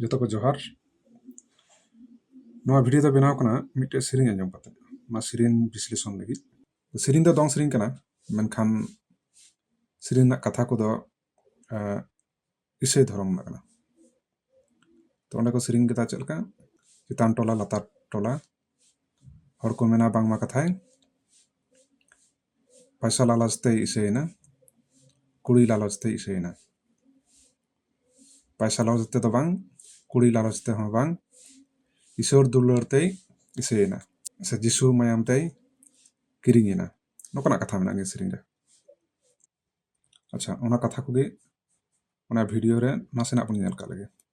ᱡᱚᱛᱚ ᱠᱚ ᱡᱚᱦᱟᱨ ᱱᱚᱣᱟ ᱵᱷᱤᱰᱤᱭᱳ ᱫᱚ ᱵᱮᱱᱟᱣ ᱠᱟᱱᱟ ᱢᱤᱫᱴᱮᱡ ᱥᱮᱨᱮᱧ ᱟᱸᱡᱚᱢ ᱠᱟᱛᱮ ᱚᱱᱟ ᱥᱮᱨᱮᱧ ᱵᱤᱥᱞᱮᱥᱚᱱ ᱞᱟᱹᱜᱤᱫ ᱥᱮᱨᱮᱧ ᱫᱚ ᱫᱚᱝ ᱥᱮᱨᱮᱧ ᱠᱟᱱᱟ ᱢᱮᱱᱠᱷᱟᱱ ᱥᱮᱨᱮᱧ ᱨᱮᱱᱟᱜ ᱠᱟᱛᱷᱟ ᱠᱚᱫᱚ ᱤᱥᱟᱹᱭ ᱫᱷᱚᱨᱚᱢ ᱨᱮᱱᱟᱜ ᱠᱟᱱᱟ ᱛᱚ ᱚᱸᱰᱮ ᱠᱚ ᱥᱮᱨᱮᱧ ᱠᱮᱫᱟ ᱪᱮᱫ ᱞᱮᱠᱟ ᱪᱮᱛᱟᱱ ᱴᱚᱞᱟ ᱞᱟᱛᱟᱨ ᱴᱚᱞᱟ ᱦᱚᱲ ᱠᱚ ᱢᱮᱱᱟ ᱵᱟᱝᱢᱟ ᱠᱟᱛᱷᱟᱭ ᱯᱚᱭᱥᱟ ᱞᱟᱞᱚᱪ ᱛᱮᱭ ᱤᱥᱟᱹᱭᱮᱱᱟ ᱠᱩᱲᱤ ᱞᱟᱞᱚᱪ ᱛᱮᱭ ᱤᱥᱟᱹᱭᱮᱱᱟ ᱯᱚᱭᱥᱟ ᱞᱟᱞᱚᱪ ᱛᱮᱫᱚ ᱵᱟᱝ ᱠᱩᱲᱤ ᱞᱟᱞᱚᱪ ᱛᱮᱦᱚᱸ ᱵᱟᱝ ᱤᱥᱚᱨ ᱫᱩᱞᱟᱹᱲ ᱛᱮᱭ ᱤᱥᱟᱹᱭᱮᱱᱟ ᱥᱮ ᱡᱤᱥᱩ ᱢᱟᱭᱟᱢ ᱛᱮᱭ ᱠᱤᱨᱤᱧ ᱮᱱᱟ ᱱᱚᱝᱠᱟᱱᱟᱜ ᱠᱟᱛᱷᱟ ᱢᱮᱱᱟᱜᱼᱟ ᱱᱤᱭᱟᱹ ᱥᱮᱨᱮᱧ ᱨᱮ ᱟᱪᱪᱷᱟ ᱚᱱᱟ ᱠᱟᱛᱷᱟ ᱠᱚᱜᱮ ᱚᱱᱟ ᱵᱷᱤᱰᱤᱭᱳ ᱨᱮ ᱱᱟᱥᱮᱱᱟᱜ ᱵᱚᱱ ᱧᱮᱞ ᱠᱟᱜ ᱞᱮᱜᱮ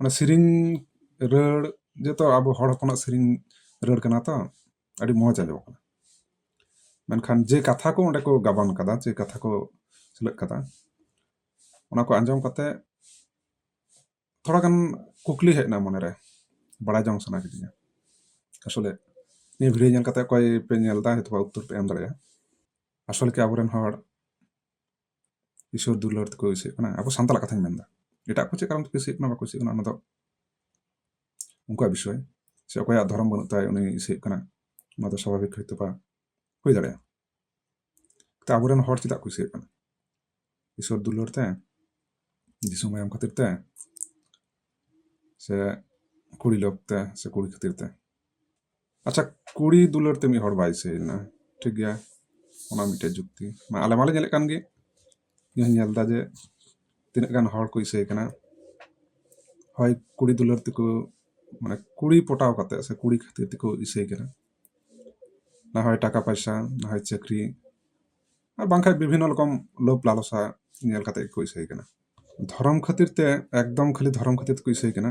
ᱚᱱᱟ ᱥᱮᱨᱮᱧ ᱨᱟᱹᱲ ᱡᱚᱛᱚ ᱟᱵᱚ ᱦᱚᱲ ᱦᱚᱯᱚᱱᱟᱜ ᱥᱮᱨᱮᱧ ᱨᱟᱹᱲ ᱠᱟᱱᱟ ᱛᱚ ᱟᱹᱰᱤ ᱢᱚᱡᱽ ᱟᱸᱡᱚᱢᱚᱜ ᱠᱟᱱᱟ ᱢᱮᱱᱠᱷᱟᱱ ᱡᱮ ᱠᱟᱛᱷᱟ ᱠᱚ ᱚᱸᱰᱮ ᱠᱚ ᱜᱟᱵᱟᱱ ᱠᱟᱫᱟ ᱡᱮ ᱠᱟᱛᱷᱟ ᱠᱚ ᱥᱮᱞᱮᱫ ᱠᱟᱫᱟ ᱚᱱᱟ ᱠᱚ ᱟᱸᱡᱚᱢ ᱠᱟᱛᱮ ᱛᱷᱚᱲᱟ ᱜᱟᱱ ᱠᱩᱠᱞᱤ ᱦᱮᱡ ᱮᱱᱟ ᱢᱚᱱᱮᱨᱮ ᱵᱟᱲᱟᱭ ᱡᱚᱝ ᱥᱟᱱᱟ ᱠᱤᱫᱤᱧᱟ ᱟᱥᱚᱞᱮ ᱱᱤᱭᱟᱹ ᱵᱷᱤᱰᱤᱭᱳ ᱧᱮᱞ ᱠᱟᱛᱮ ᱚᱠᱚᱭ ᱯᱮ ᱧᱮᱞ ᱮᱫᱟ ᱦᱚᱭᱛᱳ ᱩᱛᱛᱚᱨ ᱯᱮ ᱮᱢ ᱫᱟᱲᱮᱭᱟᱜᱼᱟ ᱟᱥᱚᱞᱮ ᱠᱤ ᱟᱵᱚᱨᱮᱱ ᱦᱚᱲ ᱤᱥᱚᱨ ᱫᱩᱞᱟᱹᱲ ᱛᱮᱠᱚ ᱤᱥᱤᱜ ᱠᱟᱱᱟ ᱟᱵᱚ ᱥᱟᱱᱛᱟᱲᱟᱜ ᱠᱟᱛᱷᱟᱧ ᱢᱮᱱᱫᱟ ᱮᱴᱟᱜ ᱠᱚ ᱪᱮᱫ ᱠᱟᱨᱚᱱ ᱛᱮᱠᱚ ᱤᱥᱤᱜ ᱠᱟᱱᱟ ᱵᱟᱠᱚ ᱤᱥᱤᱜ ᱠᱟᱱᱟ ᱚᱱᱟ ᱫᱚ ᱩᱱᱠᱩᱣᱟᱜ ᱵᱤᱥᱚᱭ ᱥᱮ ᱚᱠᱚᱭᱟᱜ ᱫᱷᱚᱨᱚᱢ ᱵᱟᱹᱱᱩᱜ ᱛᱟᱭ ᱩᱱᱤ ᱤᱥᱤᱜ ᱠᱟᱱᱟ ᱚᱱᱟ ᱫᱚ ᱥᱟᱵᱷᱟᱵᱤᱠ ᱦᱚᱭᱛᱳ ᱵᱟ ᱦᱩᱭ ᱫᱟᱲᱮᱭᱟᱜᱼᱟ ᱛᱚ ᱟᱵᱚᱨᱮᱱ ᱦᱚᱲ ᱪᱮᱫᱟᱜ ᱠᱚ ᱤᱥᱤᱜ ᱠᱟᱱᱟ ᱤᱥᱚᱨ ᱫᱩᱞᱟᱹᱲ ᱛᱮ ᱫᱤᱥᱚᱢ ᱟᱭᱟᱢ ᱠᱷᱟᱹᱛᱤᱨ ᱛᱮ ᱥᱮ ᱠᱩᱲᱤ ᱞᱚᱵᱽ ᱛᱮ ᱥᱮ ᱠᱩᱲᱤ ᱠᱷᱟᱹᱛᱤᱨ ᱛᱮ ᱟᱪᱪᱷᱟ ᱠᱩᱲᱤ ᱫᱩᱞᱟᱹᱲ ᱛᱮ ᱢᱤᱫ ᱦᱚᱲ ᱵᱟᱭ ᱥᱟᱹᱭᱮᱱᱟ ᱴᱷᱤᱠ ᱜᱮᱭᱟ ᱚᱱᱟ ᱢᱤᱫᱴᱮᱡ ᱡᱩᱠᱛᱤ ᱢᱟ ᱟᱞᱮ ᱢᱟᱞᱮ ᱧᱮᱞᱮᱫ ᱠᱟᱱ ᱜᱮ ᱤᱧ ᱧᱮᱞ ᱮᱫᱟ ᱡᱮ ᱛᱤᱱᱟᱹᱜ ᱜᱟᱱ ᱦᱚᱲ ᱠᱚ ᱤᱥᱟᱹᱭ ᱠᱟᱱᱟ ᱦᱳᱭ ᱠᱩᱲᱤ ᱫᱩᱞᱟᱹᱲ ᱛᱮᱠᱚ ᱢᱟᱱᱮ ᱠᱩᱲᱤ ᱯᱚᱴᱟᱣ ᱠᱟᱛᱮ ᱥᱮ ᱠᱩᱲᱤ ᱠᱷᱟᱹᱛᱤᱨ ᱛᱮᱠᱚ ᱤᱥᱟᱹᱭ ᱠᱟᱱᱟ ᱱᱟ ᱦᱚᱭ ᱴᱟᱠᱟ ᱯᱚᱭᱥᱟ ᱱᱟ ᱦᱚᱭ ᱪᱟᱹᱠᱨᱤ ᱟᱨ ᱵᱟᱝᱠᱷᱟᱡ ᱵᱤᱵᱷᱤᱱᱱᱚ ᱨᱚᱠᱚᱢ ᱞᱳᱵᱷ ᱞᱟᱞᱚᱥᱟ ᱧᱮᱞ ᱠᱟᱛᱮ ᱜᱮᱠᱚ ᱤᱥᱟᱹᱭ ᱠᱟᱱᱟ ᱫᱷᱚᱨᱚᱢ ᱠᱷᱟᱹᱛᱤᱨ ᱛᱮ ᱮᱠᱫᱚᱢ ᱠᱷᱟᱹᱞᱤ ᱫᱷᱚᱨᱚᱢ ᱠᱷᱟᱹᱛᱤᱨ ᱛᱮᱠᱚ ᱤᱥᱟᱹᱭ ᱠᱟᱱᱟ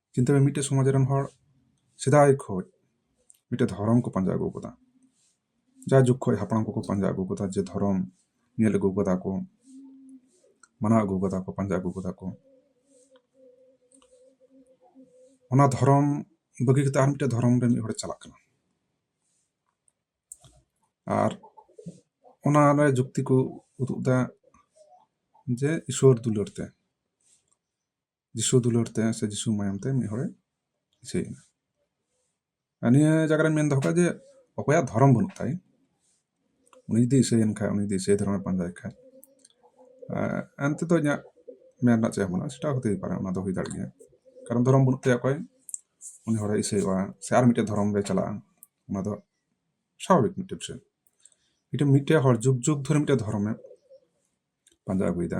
ᱪᱤᱱᱛᱟᱹ ᱢᱮ ᱢᱤᱫᱴᱮᱱ ᱥᱚᱢᱟᱡᱽ ᱨᱮᱱ ᱦᱚᱲ ᱥᱮᱫᱟᱭ ᱠᱷᱚᱱ ᱢᱤᱫᱴᱮᱱ ᱫᱷᱚᱨᱚᱢ ᱠᱚ ᱯᱟᱸᱡᱟ ᱟᱹᱜᱩ ᱟᱠᱟᱫᱟ ᱡᱟᱭ ᱡᱩᱜᱽ ᱠᱷᱚᱱ ᱦᱟᱯᱲᱟᱢ ᱠᱚᱠᱚ ᱯᱟᱸᱡᱟ ᱟᱹᱜᱩ ᱟᱠᱟᱫᱟ ᱡᱮ ᱫᱷᱚᱨᱚᱢ ᱧᱮᱞ ᱟᱹᱜᱩ ᱟᱠᱟᱫᱟ ᱠᱚ ᱢᱟᱱᱟᱣ ᱟᱹᱜᱩ ᱟᱠᱟᱫᱟ ᱠᱚ ᱯᱟᱸᱡᱟ ᱟᱹᱜᱩ ᱟᱠᱟᱫᱟ ᱠᱚ ᱚᱱᱟ ᱫᱷᱚᱨᱚᱢ ᱵᱟᱹᱜᱤ ᱠᱟᱛᱮ ᱟᱨ ᱢᱤᱫᱴᱮᱱ ᱫᱷᱚᱨᱚᱢ ᱨᱮ ᱢᱤᱫ ᱦᱚᱲᱮ ᱪᱟᱞᱟᱜ ᱠᱟᱱᱟ ᱟᱨ ᱚᱱᱟᱨᱮ ᱡᱩᱠᱛᱤ ᱠᱚ ᱩᱫᱩᱜ ᱮᱫᱟ ᱡᱮ ᱤᱥᱥᱚᱨ ᱫᱩᱞᱟᱹᱲ ᱛᱮ ᱡᱤᱥᱩ ᱫᱩᱞᱟᱹᱲ ᱛᱮ ᱥᱮ ᱡᱤᱥᱩ ᱢᱟᱭᱟᱢ ᱛᱮ ᱢᱤᱫ ᱦᱚᱲᱮ ᱤᱪᱷᱟᱹᱭᱮᱱᱟ ᱟᱨ ᱱᱤᱭᱟᱹ ᱡᱟᱭᱜᱟ ᱨᱮ ᱢᱮᱱ ᱫᱚᱦᱚ ᱠᱟᱜᱼᱟ ᱡᱮ ᱚᱠᱚᱭᱟᱜ ᱫᱷᱚᱨᱚᱢ ᱵᱟᱹᱱᱩᱜ ᱛᱟᱭ ᱩᱱᱤ ᱡᱩᱫᱤ ᱤᱥᱟᱹᱭᱮᱱ ᱠᱷᱟᱡ ᱩᱱᱤ ᱡᱩᱫᱤ ᱤᱥᱟᱹᱭ ᱫᱷᱚᱨᱚᱢᱮ ᱯᱟᱸᱡᱟᱭ ᱠᱷᱟᱡ ᱮᱱᱛᱮ ᱫᱚ ᱤᱧᱟᱹᱜ ᱢᱮᱱ ᱨᱮᱱᱟᱜ ᱪᱮᱫ ᱵᱟᱹᱱᱩᱜᱼᱟ ᱥᱮᱴᱟ ᱦᱚᱛᱮ ᱯᱟᱨᱮ ᱚᱱᱟ ᱫᱚ ᱦᱩᱭ ᱫᱟᱲᱮᱜ ᱜᱮᱭᱟ ᱠᱟᱨᱚᱱ ᱫᱷᱚᱨᱚᱢ ᱵᱟᱹᱱᱩᱜ ᱛᱟᱭᱟ ᱚᱠᱚᱭ ᱩᱱᱤ ᱦᱚᱲᱮ ᱤᱥᱟᱹᱭᱚᱜᱼᱟ ᱥᱮ ᱟᱨ ᱢᱤᱫᱴᱮᱡ ᱫᱷᱚᱨᱚᱢ ᱨᱮ ᱪᱟᱞᱟᱜᱼᱟ ᱚᱱᱟ ᱫᱚ ᱥᱟᱵᱷᱟᱵᱤᱠ ᱢᱤᱫᱴᱮᱡ ᱵᱤᱥᱚᱭ ᱢᱤᱫᱴᱮᱡ ᱢᱤᱫᱴᱮᱡ ᱦᱚᱲ ᱡᱩᱜᱽ ᱡᱩᱜᱽ ᱫᱷᱚᱨᱮ ᱢᱤᱫᱴᱮᱡ ᱫᱷᱚᱨᱚᱢᱮ ᱯᱟᱸᱡᱟ ᱟᱹᱜᱩᱭᱮᱫᱟ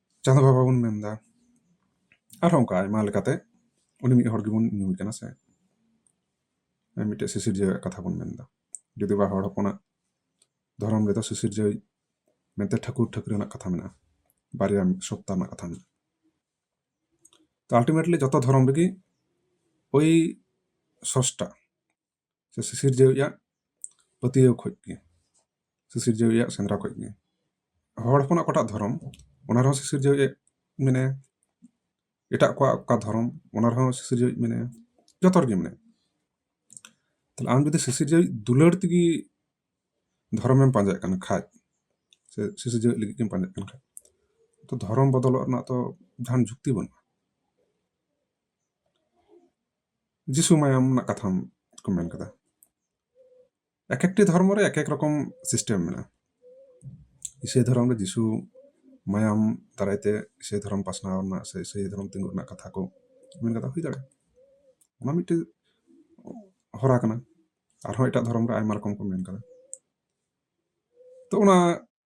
ᱪᱟᱸᱫᱚ ᱵᱟᱵᱟ ᱵᱚᱱ ᱢᱮᱱᱫᱟ ᱟᱨᱦᱚᱸ ᱚᱱᱠᱟ ᱟᱭᱢᱟ ᱞᱮᱠᱟᱛᱮ ᱩᱱᱤ ᱢᱤᱫ ᱦᱚᱲ ᱜᱮᱵᱚᱱ ᱧᱩᱢᱮ ᱠᱟᱱᱟ ᱥᱮ ᱢᱤᱫᱴᱮᱡ ᱥᱤᱥᱤᱨᱡᱟᱹᱣᱟᱜ ᱠᱟᱛᱷᱟ ᱵᱚᱱ ᱢᱮᱱᱫᱟ ᱡᱩᱫᱤ ᱵᱟ ᱦᱚᱲ ᱦᱚᱯᱚᱱᱟᱜ ᱫᱷᱚᱨᱚᱢ ᱨᱮᱫᱚ ᱥᱤᱥᱤᱨᱡᱟᱹᱣ ᱢᱮᱱᱛᱮ ᱴᱷᱟᱹᱠᱩᱨ ᱴᱷᱟᱹᱠᱩᱨ ᱨᱮᱱᱟᱜ ᱠᱟᱛᱷᱟ ᱢᱮᱱᱟᱜᱼᱟ ᱵᱟᱨᱭᱟ ᱢᱤᱫ ᱥᱚᱯᱛᱟ ᱨᱮᱱᱟᱜ ᱠᱟᱛᱷᱟ ᱢᱮᱱᱟᱜᱼᱟ ᱛᱚ ᱟᱞᱴᱤᱢᱮᱴᱞᱤ ᱡᱚᱛᱚ ᱫᱷᱚᱨᱚᱢ ᱨᱮᱜᱮ ᱳᱭ ᱥᱚᱥᱴᱟ ᱥᱮ ᱥᱤᱥᱤᱨᱡᱟᱹᱣᱤᱡ ᱟᱜ ᱯᱟᱹᱛᱭᱟᱹᱣ ᱠᱷᱚᱱ ᱜᱮ ᱥᱤᱥᱤᱨᱡᱟᱹᱣᱤᱡ ᱟᱜ ᱥᱮᱸᱫᱽᱨᱟ ᱠᱷᱚᱱ ᱜᱮ ᱦᱚᱲ ᱦᱚᱯᱚᱱᱟᱜ ᱚᱠᱟᱴᱟᱜ ᱫᱷᱚᱨᱚᱢ ᱚᱱᱟ ᱨᱮᱦᱚᱸ ᱥᱤᱥᱤᱨᱡᱟᱹᱣᱤᱡ ᱢᱮᱱᱟᱭᱟ ᱮᱴᱟᱜ ᱠᱚᱣᱟᱜ ᱚᱠᱟ ᱫᱷᱚᱨᱚᱢ ᱚᱱᱟ ᱨᱮᱦᱚᱸ ᱥᱤᱥᱤᱨᱡᱟᱹᱣᱤᱡ ᱢᱮᱱᱟᱭᱟ ᱡᱚᱛᱚ ᱨᱮᱜᱮ ᱢᱮᱱᱟᱭᱟ ᱛᱟᱦᱞᱮ ᱟᱢ ᱡᱩᱫᱤ ᱥᱤᱥᱤᱨᱡᱟᱹᱣᱤᱡ ᱫᱩᱞᱟᱹᱲ ᱛᱮᱜᱮ ᱫᱷᱚᱨᱚᱢᱮᱢ ᱯᱟᱸᱡᱟᱭᱮᱫ ᱠᱟᱱ ᱠᱷᱟᱡ ᱥᱮ ᱥᱤᱥᱤᱨᱡᱟᱹᱣᱤᱡ ᱞᱟᱹᱜᱤᱫ ᱜᱮᱢ ᱯᱟᱸᱡᱟᱭᱮᱫ ᱠᱟᱱ ᱠᱷᱟᱡ ᱛᱚ ᱫᱷᱚᱨᱚᱢ ᱵᱚᱫᱚᱞᱚᱜ ᱨᱮᱱᱟᱜ ᱛᱚ ᱡᱟᱦᱟᱱ ᱡᱩᱠᱛᱤ ᱵᱟᱹᱱᱩᱜᱼᱟ ᱡᱤᱥᱩ ᱢᱟᱭᱟᱢ ᱨᱮᱱᱟᱜ ᱠᱟᱛᱷᱟᱢ ᱠᱚ ᱢᱮᱱ ᱠᱟᱫᱟ ᱮᱠ ᱮᱠᱴᱤ ᱫᱷᱚᱨᱢᱚ ᱨᱮ ᱮᱠ ᱮᱠ ᱨᱚᱠᱚᱢ ᱥᱤᱥᱴᱮᱢ ᱢᱮᱱᱟᱜᱼᱟ ᱤᱥᱟᱹᱭ ᱫᱷᱚᱨᱚᱢ ᱨᱮ ᱡᱤᱥᱩ ᱢᱟᱭᱟᱢ ᱫᱟᱨᱟᱭ ᱛᱮ ᱤᱥᱟᱹᱭ ᱫᱷᱚᱨᱚᱢ ᱯᱟᱥᱱᱟᱣ ᱨᱮᱱᱟᱜ ᱥᱮ ᱤᱥᱟᱹᱭ ᱫᱷᱚᱨᱚᱢ ᱛᱤᱸᱜᱩ ᱨᱮᱱᱟᱜ ᱠᱟᱛᱷᱟ ᱠᱚ ᱢᱮᱱ ᱠᱟᱫᱟ ᱦᱩᱭ ᱫᱟᱲᱮᱭᱟᱜᱼᱟ ᱚᱱᱟ ᱢᱤᱫᱴᱮᱱ ᱦᱚᱨᱟ ᱠᱟᱱᱟ ᱟᱨᱦᱚᱸ ᱮᱴᱟᱜ ᱫᱷᱚᱨᱚᱢ ᱨᱮ ᱟᱭᱢᱟ ᱨᱚᱠᱚᱢ ᱠᱚ ᱢᱮᱱ ᱠᱟᱫᱟ ᱛᱚ ᱚᱱᱟ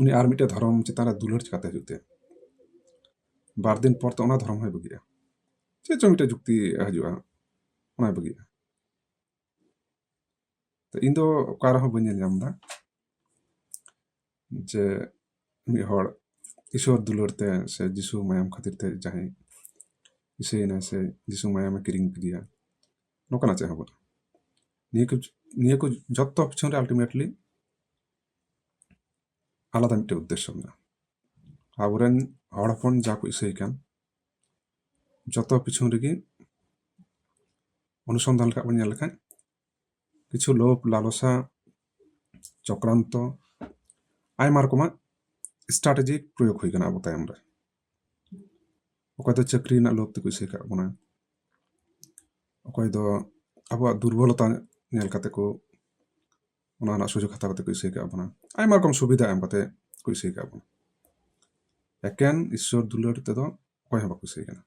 ᱩᱱᱤ ᱟᱨ ᱢᱤᱫᱴᱮᱱ ᱫᱷᱚᱨᱚᱢ ᱪᱮᱛᱟᱱ ᱨᱮ ᱫᱩᱞᱟᱹᱲ ᱪᱤᱠᱟᱹᱛᱮ ᱦᱩᱭᱩᱜ ᱛᱟᱭᱟ ᱵᱟᱨ ᱫᱤᱱ ᱯᱚᱨ ᱛᱚ ᱚᱱᱟ ᱫᱷᱚᱨᱚᱢ ᱦᱚᱸᱭ ᱵᱟᱹᱜᱤᱭᱟ ᱪᱮᱫ ᱪᱚᱝ ᱢᱤᱫᱴᱮᱱ ᱡᱩᱠᱛᱤ ᱦᱤᱡᱩᱜᱼᱟ ᱚᱱᱟᱭ ᱵᱟᱹᱜᱤᱭᱟ ᱛᱚ ᱤᱧ ᱫᱚ ᱚᱠᱟ ᱨᱮᱦᱚᱸ ᱵᱟᱹᱧ ᱧᱮᱞ ᱧᱟᱢ ᱮᱫᱟ ᱡᱮ ᱢᱤᱫ ᱦᱚᱲ ᱤᱥᱚᱨ ᱫᱩᱞᱟᱹᱲ ᱛᱮ ᱥᱮ ᱡᱤᱥᱩ ᱢᱟᱭᱟᱢ ᱠᱷᱟᱹᱛᱤᱨ ᱛᱮ ᱡᱟᱦᱟᱸᱭ ᱤᱥᱟᱹᱭᱮᱱᱟᱭ ᱥᱮ ᱡᱤᱥᱩ ᱢᱟᱭᱟᱢᱮ ᱠᱤᱨᱤᱧ ᱠᱮᱫᱮᱭᱟ ᱱᱚᱝᱠᱟᱱᱟᱜ ᱪᱮᱫ ᱦᱚᱸ ᱵᱟᱹᱱᱩᱜᱼᱟ ᱱᱤᱭᱟᱹ ᱠᱚ ᱱᱤᱭᱟᱹ ᱠᱚ ᱡᱚᱛᱚ ᱯᱤᱪᱷᱚᱱ ᱨᱮ ᱟᱞᱴᱤᱢᱮᱴᱞᱤ ᱟᱞᱟᱫᱟ ᱢᱤᱫᱴᱮᱱ ᱩᱫᱽᱫᱮᱥᱥᱚ ᱢᱮᱱᱟᱜᱼᱟ ᱟᱵᱚᱨᱮᱱ ᱦᱚᱲ ᱦᱚᱯᱚᱱ ᱡᱟ ᱠᱚ ᱤᱥᱟᱹᱭ ᱠᱟᱱ ᱡᱚᱛᱚ ᱯᱤᱪᱷᱚᱱ ᱨᱮᱜᱮ ᱚᱱᱩᱥᱚᱱᱫᱷᱟᱱ ᱞᱮᱠᱟ ᱵᱚᱱ ᱧᱮᱞ ᱞᱮᱠᱷᱟᱱ ᱠᱤᱪᱷᱩ ᱞᱳᱵᱷ ᱞᱟᱞᱚᱥᱟ ᱪᱚᱠᱨᱟᱱᱛᱚ ᱟᱭᱢᱟ ᱨᱚᱠᱚᱢᱟᱜ ᱥᱴᱨᱟᱴᱮᱡᱤ ᱯᱨᱚᱭᱳᱜᱽ ᱦᱩᱭ ᱠᱟᱱᱟ ᱟᱵᱚ ᱛᱟᱭᱚᱢ ᱨᱮ ᱚᱠᱚᱭ ᱫᱚ ᱪᱟᱹᱠᱨᱤ ᱨᱮᱱᱟᱜ ᱞᱳᱵᱷ ᱛᱮᱠᱚ ᱤᱥᱟᱹᱭ ᱠᱟᱜ ᱵᱚᱱᱟ ᱚᱠᱚᱭ ᱫᱚ ᱟᱵᱚᱣᱟᱜ ᱫᱩᱨᱵᱚᱞᱚᱛᱟ ᱧᱮᱞ ᱠᱟᱛᱮ ᱠᱚ ᱚᱱᱟ ᱨᱮᱱᱟᱜ ᱥᱩᱡᱳᱜᱽ ᱦᱟᱛᱟᱣ ᱠᱟᱛᱮ ᱠᱚ ᱤᱥᱟᱹᱭ ᱠᱟᱜ ᱵᱚᱱᱟ ᱟᱭᱢᱟ ᱨᱚᱠᱚᱢ ᱥᱩᱵᱤᱫᱷᱟ ᱮᱢ ᱠᱟᱛᱮ ᱠᱚ ᱤᱥᱟᱹᱭ ᱠᱟᱜ ᱵᱚᱱᱟ ᱮᱠᱮᱱ ᱤᱥᱥᱚᱨ ᱫᱩᱞᱟᱹᱲ ᱛᱮᱫᱚ ᱚᱠᱚᱭ ᱦᱚᱸ ᱵᱟᱠᱚ ᱤᱥᱟᱹᱭ ᱠᱟᱱᱟ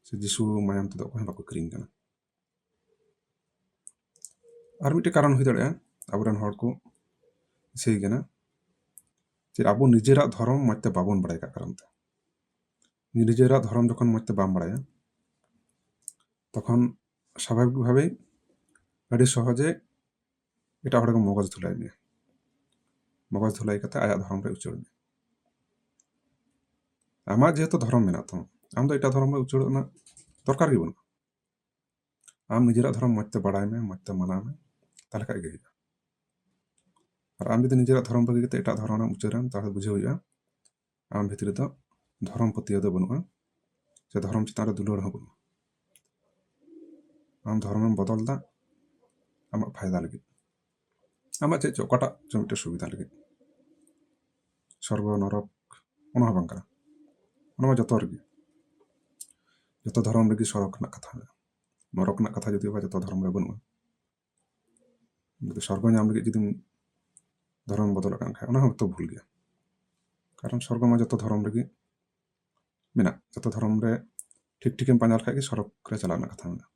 ᱥᱮ ᱡᱤᱥᱩ ᱢᱟᱭᱟᱢ ᱛᱮᱫᱚ ᱚᱠᱚᱭ ᱦᱚᱸ ᱵᱟᱠᱚ ᱠᱤᱨᱤᱧ ᱠᱟᱱᱟ ᱟᱨ ᱢᱤᱫᱴᱮᱱ ᱠᱟᱨᱚᱱ ᱦᱩᱭ ᱫᱟᱲᱮᱭᱟᱜᱼᱟ ᱟᱵᱚᱨᱮᱱ ᱦᱚᱲ ᱠᱚ ᱤᱥᱟᱹᱭ ᱠᱟᱱᱟ ᱡᱮ ᱟᱵᱚ ᱱᱤᱡᱮᱨᱟᱜ ᱫᱷᱚᱨᱚᱢ ᱢᱚᱡᱽ ᱛᱮ ᱵᱟᱵᱚᱱ ᱵᱟᱲᱟᱭ ᱠᱟᱜ ᱠᱟᱨᱚᱱ ᱛᱮ ᱱᱤᱡᱮᱨᱟᱜ ᱫᱷᱚᱨᱚᱢ ᱡᱚᱠᱷᱚᱱ ᱢᱚᱸᱡᱽ ᱛᱮ ᱵᱟᱢ ᱵᱟᱲᱟᱭᱟ ᱛᱚᱠᱷᱚᱱ ᱥᱟᱵᱷᱟᱵᱤᱠ ᱵᱷᱟᱵᱮ ᱟᱹᱰᱤ ᱥᱚᱦᱚᱡᱮ ᱮᱴᱟᱜ ᱦᱚᱲ ᱠᱚ ᱢᱚᱜᱚᱡ ᱫᱷᱩᱞᱟᱭ ᱢᱮᱭᱟ ᱢᱚᱜᱚᱡ ᱫᱷᱩᱞᱟᱭ ᱠᱟᱛᱮ ᱟᱭᱟᱜ ᱫᱷᱚᱨᱚᱢ ᱨᱮ ᱩᱪᱟᱹᱲ ᱢᱮᱭᱟ ᱟᱢᱟᱜ ᱡᱮᱦᱮᱛᱩ ᱫᱷᱚᱨᱚᱢ ᱢᱮᱱᱟᱜ ᱛᱟᱢᱟ ᱟᱢ ᱫᱚ ᱮᱴᱟᱜ ᱫᱷᱚᱨᱚᱢ ᱨᱮ ᱩᱪᱟᱹᱲ ᱨᱮᱱᱟᱜ ᱫᱚᱨᱠᱟᱨ ᱜᱮ ᱵᱟᱹᱱᱩᱜᱼᱟ ᱟᱢ ᱱᱤᱡᱮᱨᱟᱜ ᱫᱷᱚᱨᱚᱢ ᱢᱚᱸᱡᱽ ᱛᱮ ᱵᱟᱲᱟᱭ ᱢᱮ ᱢᱚᱸᱡᱽ ᱛᱮ ᱢᱟᱱᱟᱣ ᱢᱮ ᱛᱟᱦᱞᱮ ᱠᱷᱟᱡ ᱜᱮ ᱦᱩᱭᱩᱜᱼᱟ ᱟᱨ ᱟᱢ ᱡᱩᱫᱤ ᱱᱤᱡᱮᱨᱟᱜ ᱫᱷᱚᱨᱚᱢ ᱵᱟᱹᱜᱤ ᱠᱟᱛᱮ ᱮᱴᱟᱜ ᱫᱷᱚᱨᱚᱢ ᱨᱮᱢ ᱩᱪᱟᱹᱲ ᱮᱱ ᱛᱟᱦᱞᱮ ᱵᱩᱡᱷᱟᱹᱣ ᱦᱩᱭᱩᱜᱼᱟ ᱟᱢ ᱵᱷᱤᱛᱨᱤ ᱨᱮᱫᱚ ᱫᱷᱚᱨᱚᱢ ᱯᱟᱹᱛᱭᱟᱹᱣ ᱫᱚ ᱵᱟᱹᱱᱩᱜᱼᱟ ᱥᱮ ᱫᱷᱚᱨᱚᱢ ᱪᱮᱛᱟᱱ ᱨᱮ ᱫᱩᱞᱟᱹᱲ ᱦᱚᱸ ᱵᱟᱹᱱᱩᱜᱼᱟ ᱟᱢ ᱫᱷᱚᱨᱚᱢᱮᱢ ᱵᱚᱫᱚᱞ ᱮᱫᱟ ᱟᱢᱟᱜ ᱯᱷᱟᱭᱫᱟ ᱞᱟᱹᱜᱤᱫ ᱟᱢᱟᱜ ᱪᱮᱫ ᱪᱚ ᱚᱠᱟᱴᱟᱜ ᱪᱚ ᱢᱤᱫᱴᱮᱱ ᱥᱩᱵᱤᱫᱷᱟ ᱞᱟᱹᱜᱤᱫ ᱥᱚᱨᱜᱚ ᱱᱚᱨᱚᱠ ᱚᱱᱟ ᱦᱚᱸ ᱵᱟᱝ ᱠᱟᱱᱟ ᱚᱱᱟ ᱢᱟ ᱡᱚᱛᱚ ᱨᱮᱜᱮ ᱡᱚᱛᱚ ᱫᱷᱚᱨᱚᱢ ᱨᱮᱜᱮ ᱥᱚᱨᱚᱠ ᱨᱮᱱᱟᱜ ᱠᱟᱛᱷᱟ ᱢᱮᱱᱟᱜᱼᱟ ᱱᱚᱨᱚᱠ ᱨᱮᱱᱟᱜ ᱠᱟᱛᱷᱟ ᱡᱩᱫᱤ ᱵᱟ ᱡᱚᱛᱚ ᱫᱷᱚᱨᱚᱢ ᱨᱮ ᱵᱟᱹᱱᱩᱜᱼᱟ ᱥᱚᱨᱜᱚ ᱧᱟᱢ ᱞᱟᱹᱜᱤᱫ ᱡᱩᱫᱤᱢ ᱫᱷᱚᱨᱚᱢ ᱵᱚᱫᱚᱞᱚᱜ ᱠᱟᱱ ᱠᱷᱟᱡ ᱚᱱᱟ ᱦᱚᱸ ᱛᱚ ᱵᱷᱩᱞ ᱜᱮᱭᱟ ᱠᱟᱨᱚᱱ ᱥᱚᱨᱜᱚ ᱢᱟ ᱡᱚᱛᱚ ᱫᱷᱚᱨᱚᱢ ᱨᱮᱜᱮ ᱢᱮᱱᱟᱜ ᱡᱚᱛᱚ ᱫᱷᱚᱨᱚᱢ ᱨᱮ ᱴᱷᱤᱠ ᱴᱷᱤᱠᱮᱢ ᱯᱟᱸᱡᱟ ᱞᱮᱠᱷᱟᱡ ᱜᱮ ᱥᱚᱨᱚᱜᱽ ᱨᱮ ᱪᱟᱞᱟᱜ ᱨᱮᱱᱟᱜ ᱠᱟᱛᱷᱟ ᱢᱮᱱᱟᱜᱼᱟ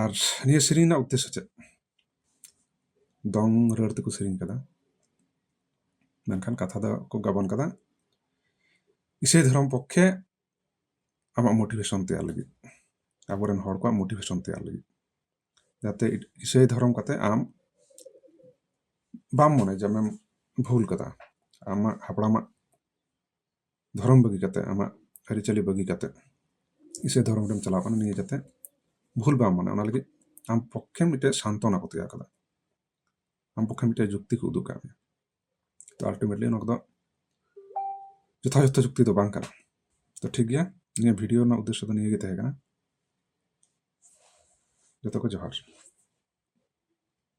ᱟᱨ ᱱᱤᱭᱟᱹ ᱥᱮᱨᱮᱧ ᱨᱮᱱᱟᱜ ᱩᱫᱽᱫᱮᱥᱥᱚ ᱪᱮᱫ ᱫᱚᱝ ᱨᱟᱹᱲ ᱛᱮᱠᱚ ᱥᱮᱨᱮᱧ ᱠᱟᱫᱟ ᱢᱮᱱᱠᱷᱟᱱ ᱠᱟᱛᱷᱟ ᱫᱚ ᱠᱚ ᱜᱟᱵᱟᱱ ᱠᱟᱫᱟ ᱤᱥᱟᱹᱭ ᱫᱷᱚᱨᱚᱢ ᱯᱚᱠᱠᱷᱮ ᱟᱢᱟᱜ ᱢᱳᱴᱤᱵᱷᱮᱥᱚᱱ ᱛᱮᱭᱟᱨ ᱞᱟᱹᱜᱤᱫ ᱟᱵᱚᱨᱮᱱ ᱦᱚᱲ ᱠᱚᱣᱟᱜ ᱢᱳᱴᱤᱵᱷᱮᱥᱚᱱ ᱛᱮᱭᱟᱨ ᱞᱟᱹᱜᱤᱫ ᱡᱟᱛᱮ ᱤᱥᱟᱹᱭ ᱫᱷᱚᱨᱚᱢ ᱠᱟᱛᱮ ᱟᱢ ᱵᱟᱢ ᱢᱚᱱᱮᱭᱟ ᱡᱮ ᱟᱢᱮᱢ ᱵᱷᱩᱞ ᱠᱟᱫᱟ ᱟᱢᱟᱜ ᱦᱟᱯᱲᱟᱢᱟᱜ ᱫᱷᱚᱨᱚᱢ ᱵᱟᱹᱜᱤ ᱠᱟᱛᱮ ᱟᱢᱟᱜ ᱟᱹᱨᱤᱪᱟᱹᱞᱤ ᱵᱟᱹᱜᱤ ᱠᱟᱛᱮ ᱤᱥᱟᱹᱭ ᱫᱷᱚᱨᱚᱢ ᱨᱮᱢ ᱪᱟᱞᱟᱣ ᱠᱟᱱᱟ ᱱᱤᱭᱟᱹ ᱡᱟᱛᱮ ᱵᱷᱩᱞ ᱵᱟᱢ ᱢᱚᱱᱮᱭᱟ ᱚᱱᱟ ᱞᱟᱹᱜᱤᱫ ᱟᱢ ᱯᱚᱠᱠᱷᱮ ᱢᱤᱫᱴᱮᱡ ᱥᱟᱱᱛᱚᱱᱟ ᱠᱚ ᱛᱮᱭᱟᱨ ᱠᱟᱫᱟ ᱟᱢ ᱯᱚᱠᱠᱷᱮ ᱢᱤᱫᱴᱮᱡ ᱡᱩᱠᱛᱤ ᱠᱚ ᱩᱫᱩᱜ ᱠᱟᱜ ᱢᱮᱭᱟ ᱛᱚ ᱟᱞᱴᱤᱢᱮᱴᱞᱤ ᱱᱚᱣᱟ ᱠᱚᱫᱚ ᱡᱚᱛᱷᱟᱡᱚᱛᱷ ᱪᱩᱠᱛᱤ ᱫᱚ ᱵᱟᱝ ᱠᱟᱱᱟ ᱛᱚ ᱴᱷᱤᱠ ᱜᱮᱭᱟ ᱱᱤᱭᱟᱹ ᱵᱷᱤᱰᱤᱭᱳ ᱨᱮᱱᱟᱜ ᱩᱫᱽᱫᱮᱥᱥᱚ ᱫᱚ ᱱᱤᱭᱟᱹ ᱜᱮ ᱛᱟᱦᱮᱸ ᱠᱟᱱᱟ ᱡᱚᱛᱚ ᱠᱚ ᱡᱚᱦᱟᱨ